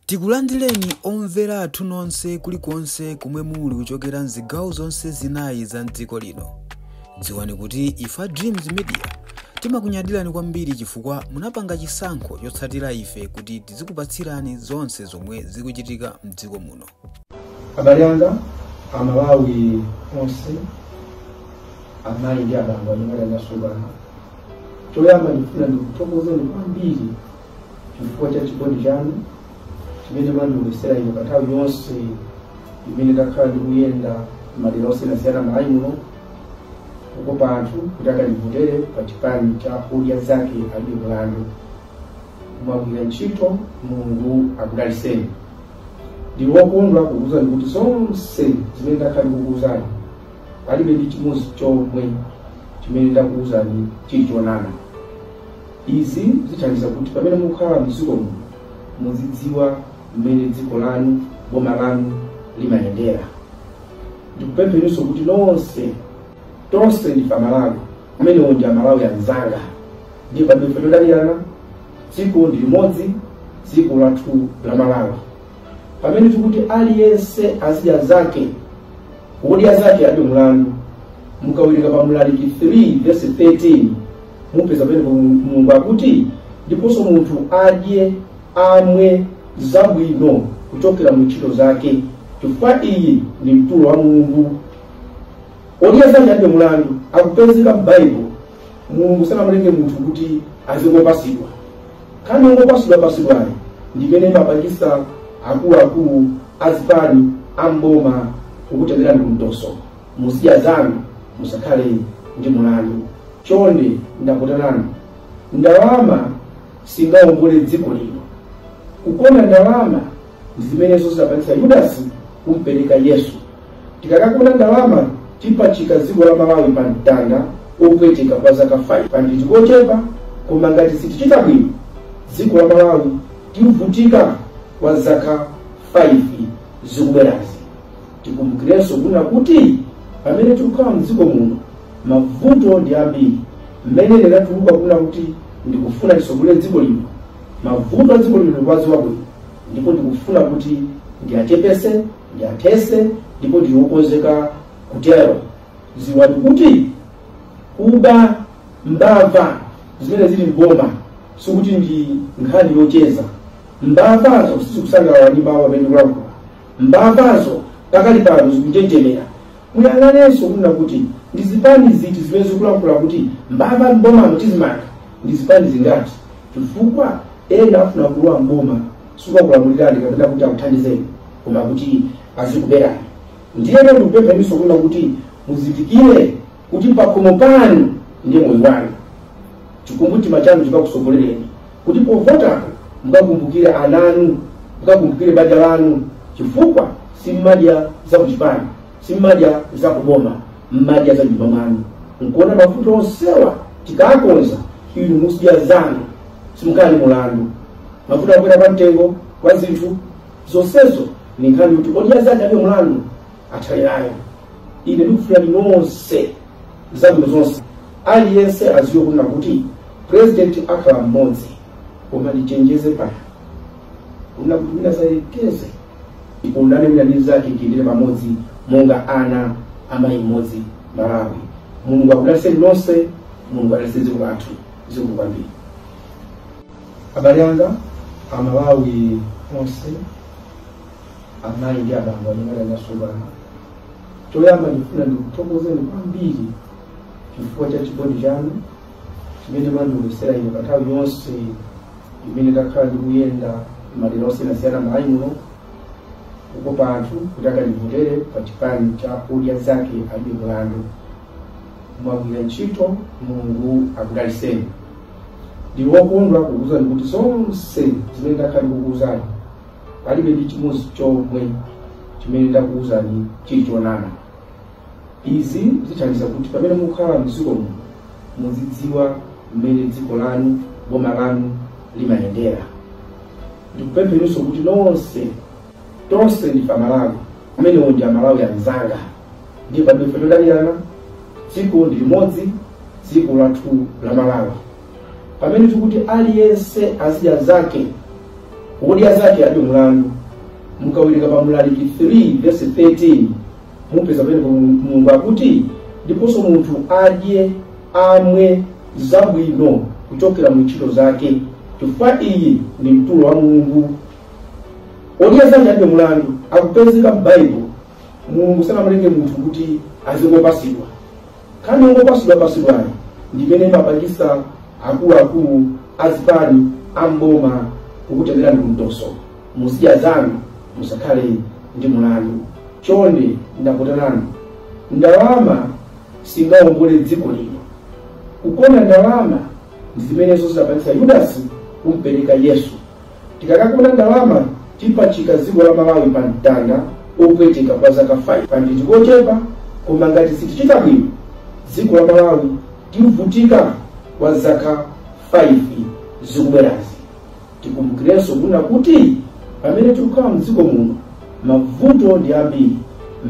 Tikulandireni omvera athu nonse kulikonse komwe muli kuchokera mzigawo zonse zinayi za mdziko lino. Dziwani kuti ife a Dreams Media timakunyadirani kwambiri chifukwa munapanga chisankho chotsatira ife kuti tizikupatsirani zonse zomwe zikuchitika mdziko muno. abale anga amalawi onse amayi ndi abambo anyamata ndi asungwana choyamba ndikufuna ndikuthokozeni kwambiri chifukwa cha chikondi chanu chimene mwandionetsera ine pa nthawi yonse imene ndakhala ndikuyenda madera osiyanasiyana m'malawi muno kukopa anthu kuti akandivotere pa chipani cha odya zake alibe mlandu mwagwira ntchito mulungu akudaliseni ndili wokondwa kukuuzani kuti zonse zimene ndakhala ndikukuuzani palibe ndi chimodzi chomwe chimene ndakuuzani chili chonama izi zithandiza kuti pamene mukukhala mdziko muno muzidziwa mmene dziko lanu boma lanu limayendera ndikupempheninso kuti nonse tonse ndife amalawi amenewo ndi amalawi anzanga ndiye pamene ife todalirana dziko ndi limodzi dziko lathu la malawi pamene tikuti aliyense azidya zake odya zake alibe mlandu mukawerenga pa mlaliki 3 verse 13 mupeza pamene mulungu akuti ndiponso munthu adye amwe zabwino kuchokera mu ntchito zake chifukwa iyi ndi mtulo wa mulungu Odya zake alibe mlandu akupezeka m'Baibulo Mulungu sanamulenge munthu kuti azingopasidwa. Nkhani yongopasidwa pasidwayo ndi imene imapangisa akuluakulu azipani amboma kukutengerani kumtoso. Muzidya zanu musakhale ndi mlandu. Chonde ndapota nanu ndalama singaombole dziko lino. Kukonda ndalama ndi zimenezo zidapangitsa yudasi kumpereka yesu tikakakonda ndalama tipachika dziko la malawi pa mtanda opweteka kwa zaka 5 paja nditi kochepa koma ngati sitichita bwino dziko la malawi tivutika kwa zaka 5 zikubwerazi tikumbukirenso kunena kuti pamene tikukhala mdziko muno mavuto ndi ambiri mmene ndinatuluka kunena kuti ndikufuna tisogolere dziko lino Mavuto a dziko lino ndikuwadziwa bwino ndipo ndikufuna kuti ndiachepese, ndiathese ndipo ndili wokonzeka kutero. Dziwani kuti kuba mbava zimene zili m'boma sikuti ndi nkhani yocheza. Mbavazo sizikusangalala ndi mawu amene ndikulankhula. Mbavazo pakali pano zikunjenjemera. Muyang'anenso kunena kuti ndi zipani ziti zimene zikulankhula kuti mbava m'bomamo tizimanga ndi zipani zingati. chifukwa ena afuna kulowa mboma sikukulamulirani kapena kuti akuthandizeni koma kuti azikuberani ndiye lero ndikupempheniso kunena kuti muzindikire kuti pakhomo panu ndiye moyo wanu chikumbumtima chanu chikakusogolereni kuti povotako mukakumbukire ananu mukakumbukire banja lanu chifukwa simmadya zakuchipani simmadya zakuboma mmadya za nyumba mwanu nkuona mavuto onsewa tikakonza inu muzidya zanu simukhala ndi mulandu mavuto akwera kwa mtengo kwa zinthu zonsezo ni nkhani kuti odya zake alibe mulandu athane nayo ine ndikufunirani nonse zabwino zonse aliyense aziwe kunena kuti purezidenti akhala mmodzi koma ndichenjeze pano kunena kuti wina sayekeze tikondane wina ndi mnzake tiyendere pamodzi monga ana amayi mmodzi malawi mulungu akudalitseni nonse mulungu adalitse dziko lathu zikomo kwambiri abale anga amalawi onse amayi ndi abambo amene ndasungana choyamba ndifuna ndikuthokozeni kwambiri chifukwa cha chikondi chanu chimene mwandionetsera ine pa nthawi yonse imene ndakhala ndikuyenda madera osiyanasiyana m'Malawi muno kukopa anthu kuti akandivotere pa chipani cha Odya Zake Alibe Mulandu. Mwagwira ntchito, Mulungu akudalitseni. Ndili wokondwa kukuwuzani kuti zonse zimene ndakhala ndikukuwuzani palibe ndi chimodzi chomwe chimene ndakuwuzani chili chonama. Izi zithandiza kuti pamene mukukhala m'dziko muno muzidziwa mmene dziko lanu, boma lanu limayendera. Ndikupempheniso kuti nonse, tonse ndife Amalawi, amenewo ndi Amalawi anzanga, ndiye palibe todanirana, dziko ndi limodzi, dziko lathu la Malawi. Pamene tikuti aliyense azidya zake, wodya zake alibe mlandu, mukawerenga pa Mlaliki 3 vesi 13 mupeza pamene mulungu akuti ndiponso munthu adye amwe zabwino kuchokera mu ntchito zake chifukwa iyi ndi mtulo wa mulungu odya zake alibe mulandu akupezeka m'baibulo mulungu sanamulenge munthu kuti azingopasidwa nkhani yongopasidwa pasidwayo ndimene imapangisa akuluakulu azipani amboma kukutengerani kumtoso muzidya zanu musakhale ndi mulandu chonde ndakuitanani ndalama singawombole dziko lino kukonda ndalama ndi zimenenso zidapangitsa yudasi kumpereka yesu tikakakonda ndalama tipachika dziko la malawi pa mtanda opweteka kwa zaka 5 pa nditi kochepa koma ngati sitichita bwino dziko la malawi tivutika kwa zaka 5 zikubwerazi tikumbukirenso mwina kuti pamene tikukhala mdziko muno mavuto ndi ambiri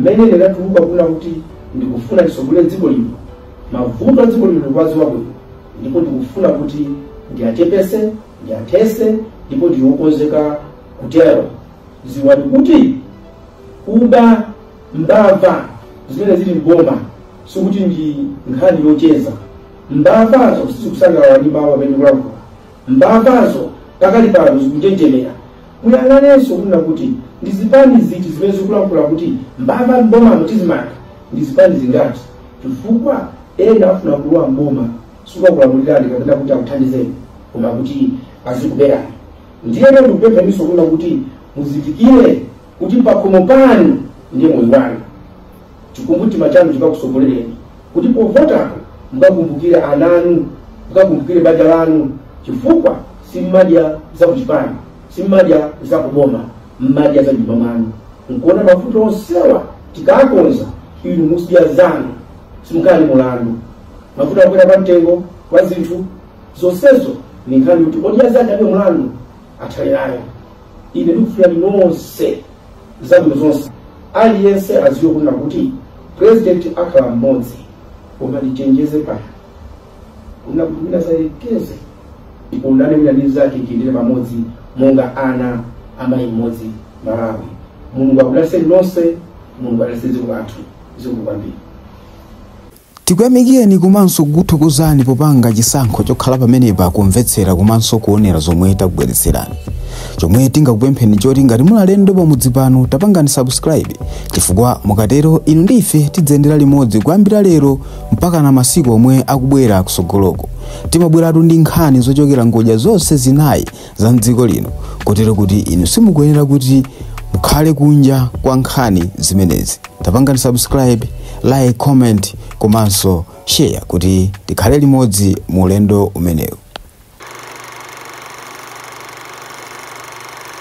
mmene ndinatuluka kunena kuti ndikufuna ndisogolere dziko lino mavuto a dziko lino ndikuwadziwa bwino ndipo ndikufuna kuti ndiyachepese ndiyathese ndipo ndili okonzeka kutero ziwani kuti kumanga mbava zimene zili mboma sikuti ndi nkhani yocheza mbavazo sizikusangalala ndi mawu amene ndikulankhula Mbavazo pakali pano zikunjenjemera. Muyang'anenso kunena kuti ndi zipani ziti zimene zikulankhula kuti mbava m'bomamo tizimanga ndi zipani zingati, chifukwa ena afuna kulowa m'boma sikukakulamulirani kapena kuti akuthandizeni koma kuti azikuberani. Ndiyeno ndikupempheninso kunena kuti muzindikire kuti pakhomo panu ndiye moyo wanu chikumbumtima chanu chikakusogolereni kuti povotapo mukakumbukire ananu mukakumbukire banja lanu chifukwa simmadya za kuchipani simmadya za kuboma mmadya za nyumba mwanu nchifukwa mavuto onsewa tikakonza inu muzidya zanu simukhala ndi mulandu mavuto akukwera kwa mtengo kwa zinthu zonsezo ndi nkhani yoti odya zake alibe mulandu atsalirayo ine ndikufunirani nonse zabwino zonse aliyense adziwe kunena kuti president akhala mmodzi koma ndichenjeze pano kunena kuti wina asayerekeze kudana wina ndi mzake tiyendere pamodzi monga ana amayi mmodzi malawi mulungu akudaliseni nonse mulungu adalise dziko lathu zikomo kwambiri Tikuyamikireni komanso kukuthokozani popanga chisankho chokhala pamenepa kumvetsera komanso kuonera zomwe takubweretserani. Chomwe tingakupempheni nchoti ngati muli alendo pamudzi pano tapangani subscribe chifukwa mukatero inu ndi ife tidziyendera limodzi kuyambira lero mpakana masiku omwe akubwera kusogoloko. Timabweratu ndi nkhani zochokera ngodya zonse zinayi za mdziko lino kotero kuti inu simukuyenera kuti mukhale kunja kwa nkhani zimenezi tapangani subscribe like comment komanso share kuti tikhale limodzi mu ulendo umenewu